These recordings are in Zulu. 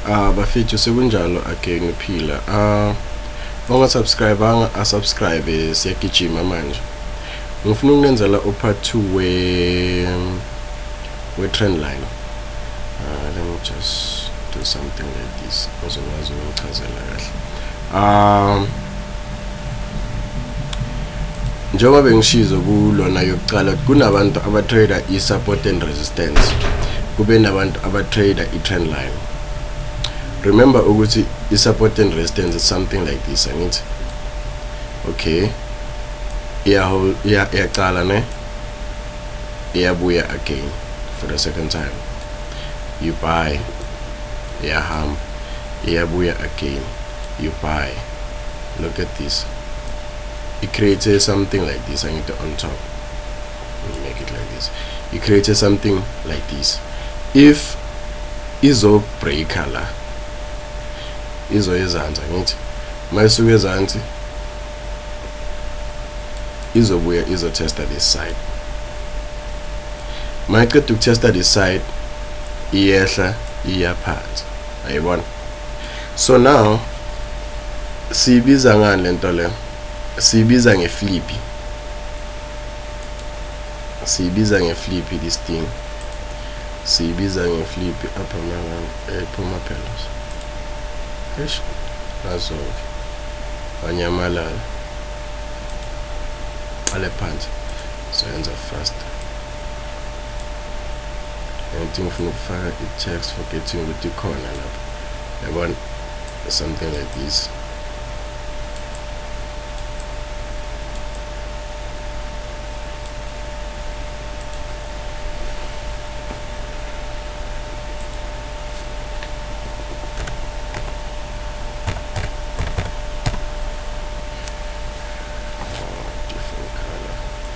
ah bafethu sekunjalo again uphila ah ongasubscribanga asubscribe siyagijima manje ngifuna ukunenzela upart 2 we we trend line uh, let me just do something like this ozokwazi ukuchazela kahle um njengoba bengishizo kulona yokuqala kunabantu abatrader i-support and resistance kube nabantu abatrader i-trend line remember ukuthi i-support and resistance is something like this angithi okay iyahol iyaqala ne iyabuya again for the second time you buy iyahamba iyabuya again you buy look at this it creates something like this angithi on top make it like this it creates something like this if izo breaker la izo ezansi angithi mayisuka ezansi izobuya izo testa this side mayiqeda ukutesta this side iyehla iyaphansi ayibona so now siyibiza ngani lento le siyibiza ngeflipi siyibiza ngeflipi this thing siyibiza ngeflipi apha mangani ephuma eh, phela eish nazo wanyamalala qale phansi soyenza fast Anything ufuna ukufaka i-tax forgetting ukuthi ikhona lapho yabona something like this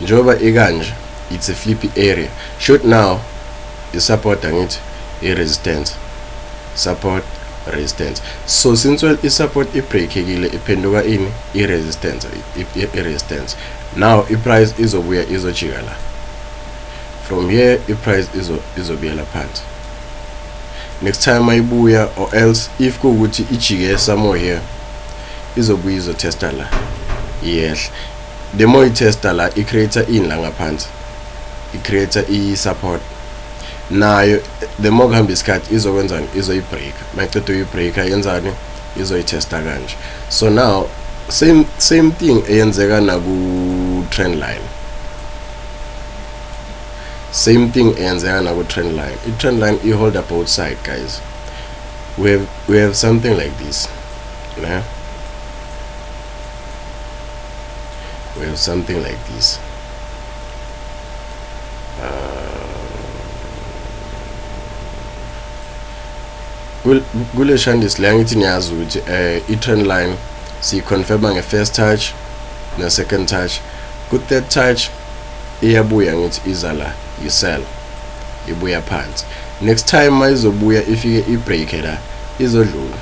Njengoba ikanje, it's a flippy area. Shoot now is support angithi i resistance. Support resistance. So since well i support i breakekile iphenduka ini i resistance i resistance. Now i price izobuya izojika la. From here i price izo izobuyela phansi. Next time ayibuya or else if kuwukuthi ijike somewhere here izobuya izotesta la. Yes. The more you tester la i creator in la ngaphansi i creator i support nayo the more kuhamba isikhathi izokwenzani izoyibreaker mayiqeda uyibreaker yenzani izoyithesta kanje so now same same thing eyenzeka naku trend line same thing eyenzeka naku trend line i trend line i hold up both side guys we have, we have something like this ne well something like this kule shandis le angithi niyazi ukuthi um eh, i-trend line siyiconfirma nge-first touch ne-second touch ku-third touch iyabuya ngithi iza la yisela ibuya phansi next time uma izobuya ifike ibreake la izodlula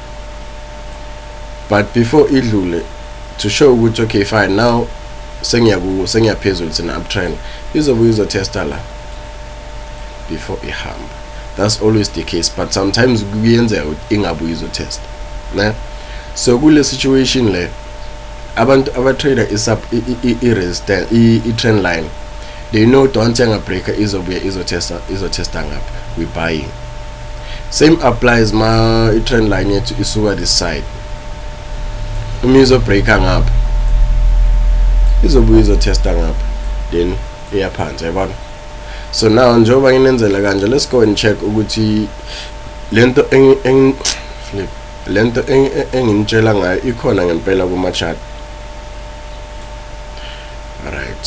but before idlule to show ukuthi okay fine now sengiyaku sengiyaphezulu sina uptrend izobuye izotesta la before ihamba that's always the case but sometimes kuyenzeka ukuthi ingabuye izotesta ne so kule situation le abantu abatrader isub i-resistance i-trend line they know don't yangabreaker izobuye izotesta izotesta ngapha we buying same applies ma i-trend line yethu isuka this side uma izobreaka ngapha izobuye izotesta ngapha then iyaphansi yabona so now njengoba nginenzela kanje let's go and check ukuthi lento flip lento enginitshela ngayo ikhona ngempela kuma-chart right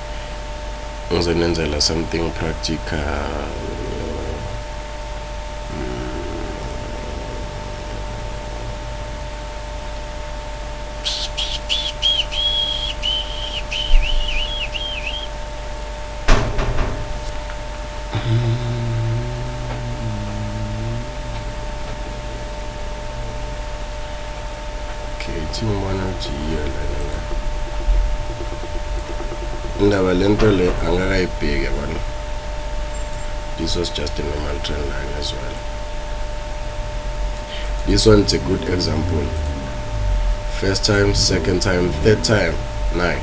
ngizonenzela something practical okay thi ngibona ukuthi yiyo lena indaba le nto le angakayibheki yabona this was just a normal trend line as well this one is a good example first time second time third time nine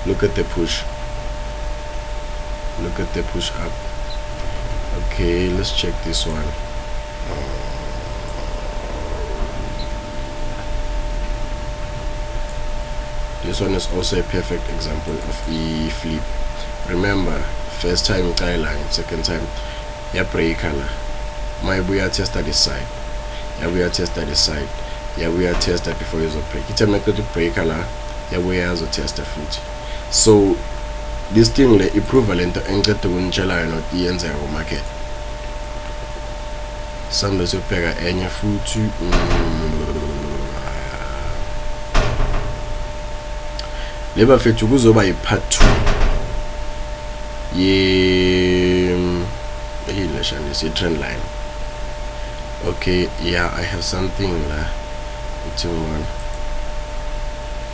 look at the push look at the push up okay let's check this one this one is also a perfect example of the flip remember first time tie line second time ya breaker la mayibuya testa this side yabuya testa this side yabuya testa before izobreak ithe maqeda ukubreaker la yabuya yazotesta futhi so this thing le iprove lento engicede ukunitshela yona ukuthi iyenzeka kumarket sambe siyobheka enye futhi le bafethu kuzoba yi-part 2 ye yini leshanisi i-trend line okay yeah i have something la kuthiwa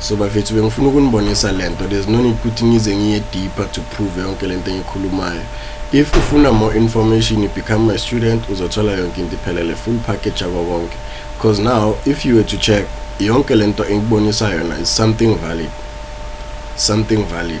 so bafethu bengifuna ukunibonisa lento there's no need ukuthi ngize ngiye deeper to prove yonke lento engikhulumayo if ufuna more information you become my student uzothola yonke into iphelele full package yako konke because now if you were to check yonke lento engibonisa yona is something valid something valid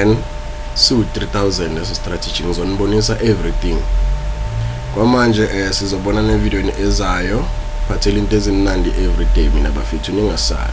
and su 3000 leso strategy ngizonibonisa everything kwamanje eh sizobona ne video ezayo phathela into ezimnandi everyday mina bafethu ningasabi